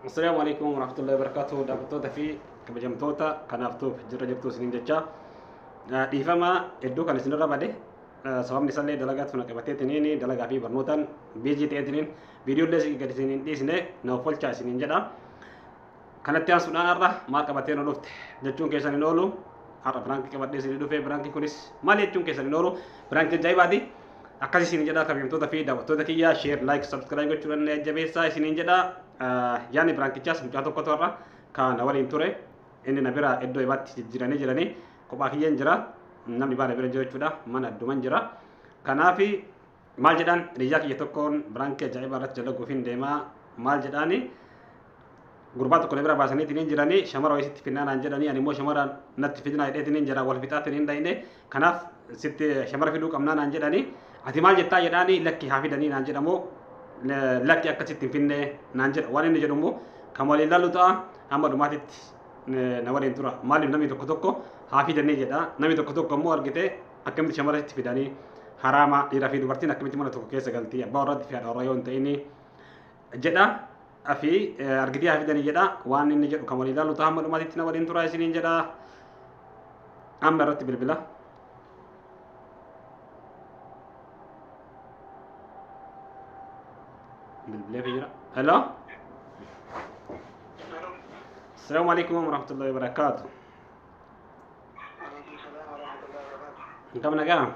Assalaamu alaikum warahmatullahi wabarakatuh daawwattoota fi kabajamtoota kanaaf tuuf jirra jirtu isiniin jecha dhiifama hedduu kan isinirra bade sababni isallee dalagaa tuna qabateetiniin dalagaa fi barnootaan biizii ta'eetiniin viidiyoollee gad isiniin dhiisne na offolchaa isiniin jedha kanatti aansuudhaan har'a maal qabatee nu dhufte jechuun keessan hin oolu har'a biraankii qabadhee isinii dhufe biraankii kunis maal jechuun keessan hin oolu biraankii ajaa'ibaati Akkas isin jedha kabajamtoota fi daawwattoota kiyya share like subscribe gochuudhaan jajjabeessaa isiniin jedha. Yaani biraankichaas mucaa tokkotu har'a kan na waliin ture inni na bira iddoo ibaatti jijjiiranii jiranii kophaa kiyyeen jira namni baana bira jiru jechuudha mana adduman jira. Kanaaf maal jedhaan hiriyaa kiyya tokkoon biraankii ajaa'ibaa irratti dalaguuf hin deemaa maal jedhaanii gurbaa tokko na bira baasaniitiin hin jiranii shamara wayii sitti finnaa naan jedhanii ani immoo shamara natti fidinaa jedheetiin hin jira wal fixaatiin hin dhayne kanaaf sitti shamara fiduu qabnaa naan jedhanii ati maal jettaa jedhaanii lakki haa fidanii naan jedhamoo la- lakki akka sitti hin finnee naan jedha waan inni jedhu immoo kan waliin laallu ta'a hamma dhumaatitti eh, na waliin tura maaliif namni tokko tokko haa fidanii jedha namni tokko tokko immoo argite akkamitti shamara sitti fidanii haraama dhiiraa fi dubartiin akkamitti mana tokko keessa galtii abbaa warratti fi haadha warraa yoo hin ta'inii jedha afi argitii haa fidanii jedha waan inni jedhu kan walii ilaalu ta'a hamma dhumaatitti na waliin turaa isiniin jedha amma irratti bilbila. bilbilee fi jira. Hello. Assalamu alaikum wa rahmatullahi wa barakatuh. Kam nagaa?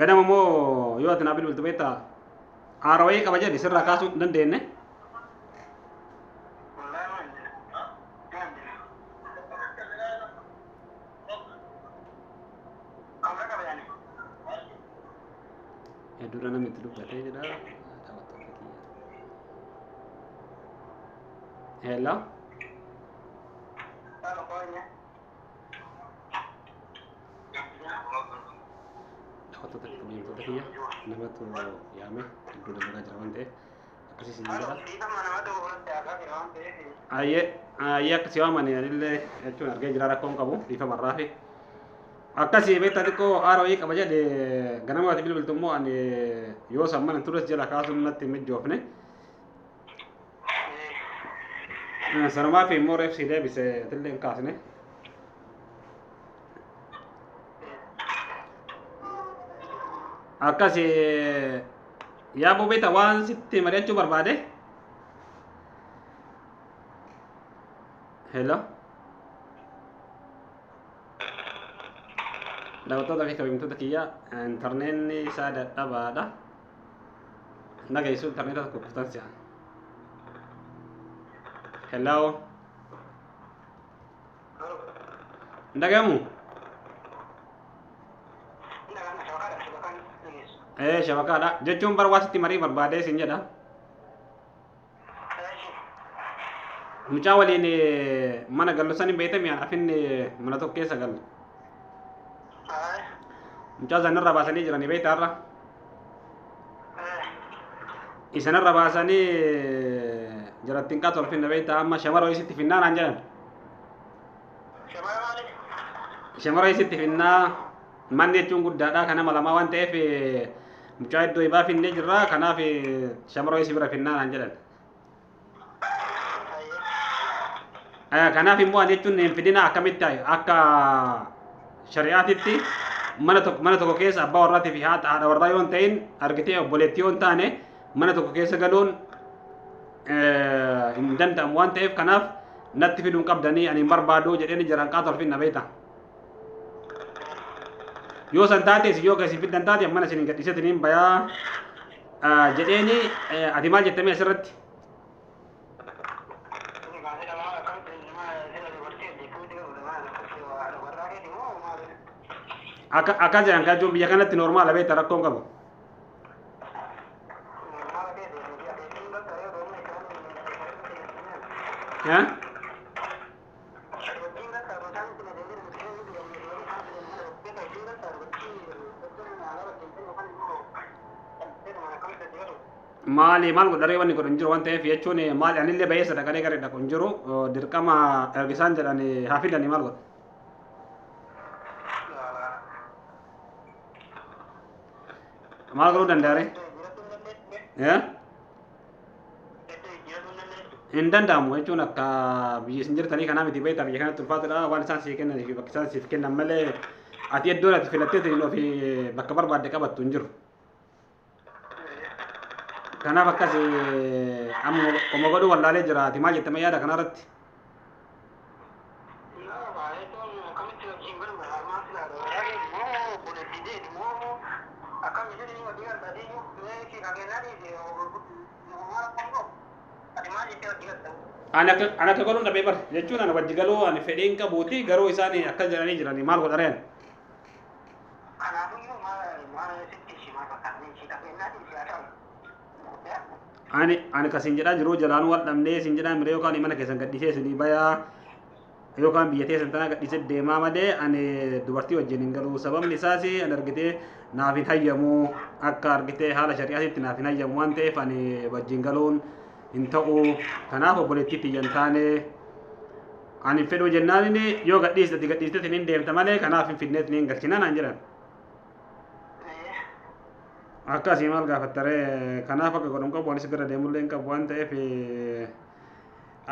Ganama immoo yoo ati naa bilbiltu beektaa haara wayii qaba jedhe sirraa kaasuu hin dandeenye. Hedduudha namni itti dubbatee jedha. Hello. Taphattoota kabajamtoota kiyya namatu yaame hedduu dalagaa jira waan ta'eef akkasii isin jedha. Ayyee ayyee akkasii waan mani anillee jechuun argee jira rakkoon qabu bifa marraa fi akkasii beektaa xiqqoo haara wayii qaba jedhe ganamaati bilbiltu immoo ani yoo san mana tures jala kaasuun natti hin mijoofne. Sanumaa fi immoo reef sii deebise tillee hin kaasne. Akkasi yaa bubeeta waan sitti mari'achuu barbaade. Hello. Daawwattoota fi kabajamtoota kiyyaa intarneetni isaa dadhabaadha. dhageessu intarneeta tokko kuftan si'a hello hin dhagahamu ee shabakaadha jechuun bar waa sitti marii barbaadee isin jedha Mucaa waliin mana gallu san hin beekte mi'aan afin mana tokko keessa galu. Mucaa sanarra baasanii jiranii beekta har'a. Isanarra baasanii jarattiin qaatu olfinna beekta amma shamara isitti finnaa naan jedhan. Shamara isitti finnaa. Manni jechuun guddaadha. Kan nama lamaa waan ta'eef mucaa iddoo ibaa finnee jirra. Kanaaf shamaroo si bira finnaa naan jedhan. Eh, Kanaaf immoo ani jechuun hin fidina akkamitti ta'e akka shari'aatitti mana tokko mana tokko keessa abbaa warraatii fi haadha haadha warraa yoo hin ta'in argitee obboleettii yoo hin taane mana tokko keessa galuun eh, hin danda'amu waan ta'eef kanaaf natti fiduun qabdanii ani hin barbaadu jedheen jiran qaata olfin na beektaa. yoo san taate isin yoo ka isin fiddan taate mana isin gadhiisatiniin bayaa jedheeni ati maal jettamee asirratti akka akka jedhan kan jechuun biyya kanatti normaala beekta rakkoon qabu. Eh? maali maal godharee wanni godhan jiru waan ta'eef jechuun maali anillee baay'ee sadaqalee garee dhaqu hin jiru dirqama ergisaan jedhan haa fidanii maal godha. maal godhuu danda'a ree? hin danda'amu jechuun akka biyya isin jirtanii kanaa miti beektaa biyya kanatti ulfaatadha waan isaan siif kennan fi bakka isaan siif kennan malee ati iddoon ati filattee ta'in ofi bakka barbaadde qabattu hin jiru. Kanaaf akkas amma qoma godhuu wallaalee jira ati maal jette mayyaadha kanarratti. Ani akka ani akka godhuun dhabee bara jechuun ana wajji galuu ani fedhii hin qabuuti garuu isaan akkas jedhanii jiranii maal godha reen. ani ani kasin jedhaa jiruu jalaanuu wal dhabnee isin jedhaa mire yookaan mana keessan gadhisee isinii bayaa yookaan biyya teessan tanaa gadhisee deemaa malee ani dubartii wajjin hin galuu sababni isaas an argitee naaf hin hayyamu akka argitee haala shari'aatitti naaf hin hayyamu waan ta'eef ani wajjin galuun hin ta'u kanaaf obboleettii tiyyan taane ani hin fedhuu jennaan yoo gadhiistati gadhiistati hin deemta malee kanaaf hin fidneet ni hin galchina naan jedhan akkasii maal gaafattaree kanaaf akka godhan qabu anis gara deemullee hin qabu waan ta'eef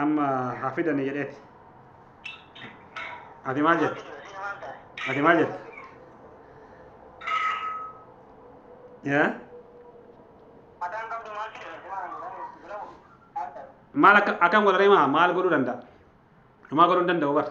amma haa fidanii jedheeti ati maal jette ati maal jette yaa maal akka akkam godharee maa maal godhuu danda'a homaa godhuu hin danda'u bara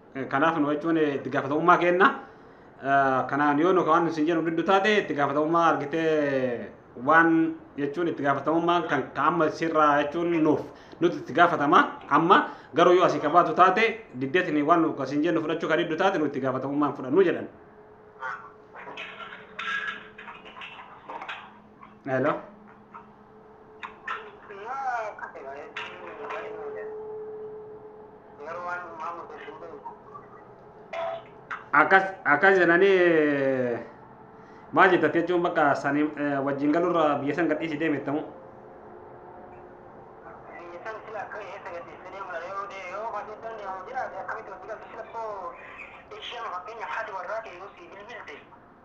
Kanaaf nu jechuun itti gaafatamummaa kenna. Kanaan yoo nu waan isin jedhu diddu taate itti gaafatamummaa argitee waan jechuun itti gaafatamummaan kan amma sirraa jechuun nuuf nuti itti gaafatama amma garuu yoo asii qabaatu taate diddeetni waan nu isin jedhu fudhachuu kan diddu taate nu itti gaafatamummaan fudhannu jedhan. Hello. Akkas akkas jedhanii maal jettate jechuun bakka sanii wajjin galurra biyya san gadhiisi deemettamu.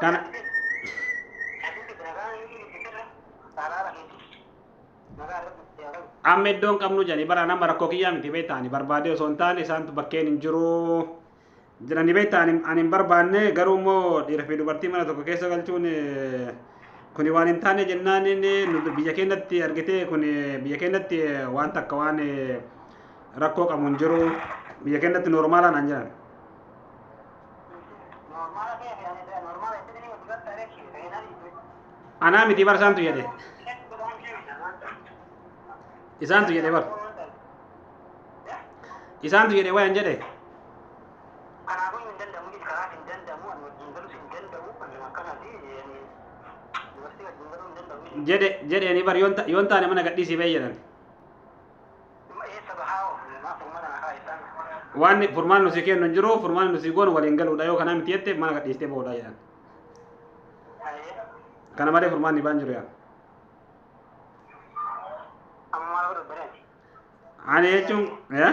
Kana amma iddoon qabnu jedhanii bara nama rakkoo kiyyaa miti beektaani barbaadee osoo hin taane isaantu bakkeen hin jiru jedhanii beektaani ani hin barbaanne garuu immoo dhiira fi dubartii mana tokko keessa galchuun eh, kuni waan hin taane jennaan inni nu biyya keenyatti argitee kuni biyya keenyatti eh, waan takka waan eh, rakkoo qabu hin jiru biyya keenyatti noormaalaa naan jedhan. anaa miti bar isaantu jedhe isaantu jedhe bar isaantu jedhe wayan jedhe jedhe jedheeni bar yoon ta- yoon taane mana gadhiisii bee jedhan waan furmaan nusi kennu hin jiru furmaan nusi goonu waliin galuudha yoo kanaa miti jette mana gadhiistee boodha jedhan kana malee furmaan dhibaan jiru yaa ani jechuun yaa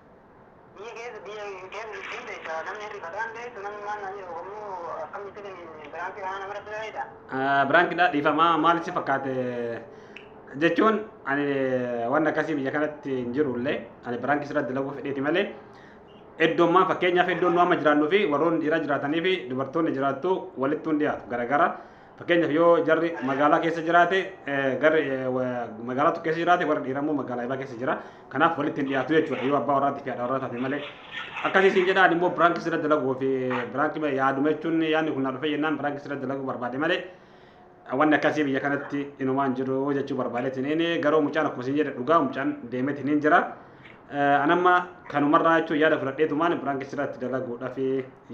Biyya keessa biyya keessa jechuun beektaa namni hirrifataan beektu namni maal naan jedhu kammoo akkamitti biraankii kanaa nama rakkisa beektaa. Biraankidha dhiifamaa maal si fakkaate jechuun ani waan akkasii biyya kanatti hin jiru illee ani biraankii sirra dalaguu fedheeti malee iddoon maa fakkeenyaaf iddoon nu amma jiraannuu fi warroonni dhiiraa jiraatanii fi dubartoonni jiraattu walitti hin dhiyaatu garagara. Fakkeenyaaf yoo jarri magaalaa keessa jiraate garri magaalaa tokko keessa jiraate warri dhiiraa immoo magaalaa ibaa keessa jira. Kanaaf walitti hin dhiyaatu jechuudha yoo abbaa warraatti fi haadha warraa taate malee. Akkasii siin jedhaan immoo biraanki sirra dalaguu fi biraanki yaaduma jechuun yaadni kun na dhufee jennaan biraanki sirra dalaguu barbaade malee. wanni akkasii biyya kanatti inumaan jiru jechuu barbaadeetiin inni garuu mucaan akkuma isin jedhe dhugaa mucaan deemeetiin hin jira. Anamma kanumarraa jechuun yaada fudhadheetumaan biraan keessatti dalaguudhaaf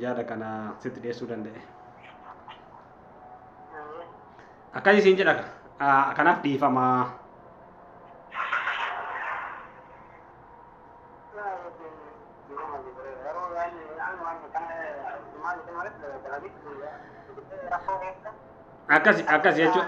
yaada kana sitti dhiyeessuu danda'e. Akkasii siin jedha kanaaf dhiifamaa. Akkasi akkasi jechuun.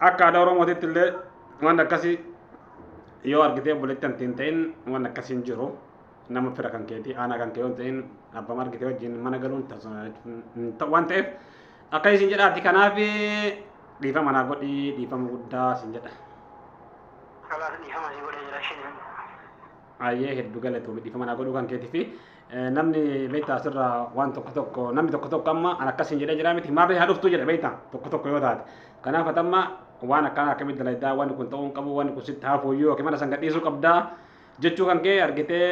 Akka aadaa Oromootitti illee waan akkasii yoo argitee obboleetti anti hin ta'in waan akkasii hin jiru. Nama fira kan keetii aanaa kan kee yoo hin ta'in abbama argitee wajjin mana galuun waan ta'eef akka isin jedhaati kanaaf dhiifama naa godhii dhiifama guddaa isin jedha. Kalaas dhiifama si godhee jira isheen. Ayyee heddu galatoomii dhiifama naa godhuu kan keetii fi namni beektaa asirra waan tokko tokko namni tokko tokko amma an akkas hin jedhee jira miti maarree haa dhuftuu jedha beektaa tokko tokko yoo taate kanaaf ati amma waan akkanaa akkamitti dalaydaa waan kun ta'uu hin qabu waan kun sitti haafuu iyyuu yookiin mana san gadhiisuu qabdaa jechuu kan kee argitee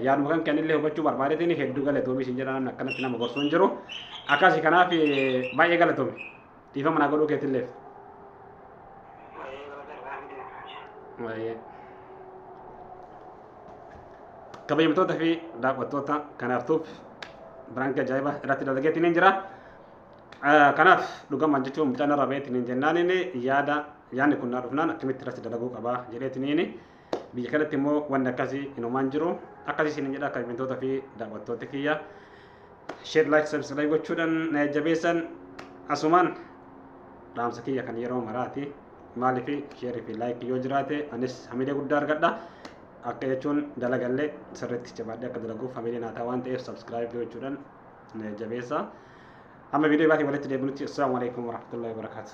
yaaduma kan keen illee hubachuu barbaadeetiin hedduu galatoomi isin jedha namni akkanatti nama gorsuu hin jiru akkasi kanaaf baay'ee galatoomi. Dhiifama naa godhuu keetilleef. Waa'ee. Kabajamtoota fi daawwattoota kan artuuf biraanki ajaa'iba irratti dalageetti ni jira. Eh, Kanaaf dhugamaan jechuun mucaan irra beetti ni jennaaniin yaada yaadni kun naa dhufnaan akkamitti irratti dalaguu qabaa jedheetti ni Biyya kanatti immoo wanni akkasii inumaan jiru. Akkasii isin jedha kabajamtoota fi daawwattoota kiyya. Sheer laayik sabskiraayib gochuudhaan na jajjabeessan asumaan dhaamsa kiyya kan yeroo maraati. Maaliif sheerii fi laayikii yoo jiraate anis hamilee guddaa argadha. Akka jechuun dalagallee sirriitti jabaadhee akka dalaguuf hamilee naa ta'a waan ta'eef sabskiraayib gochuudhaan na jajjabeessa. Amma viidiyoo baatii walitti deebinutti assalaamu alaikum warahmatullahi wabarakatuh.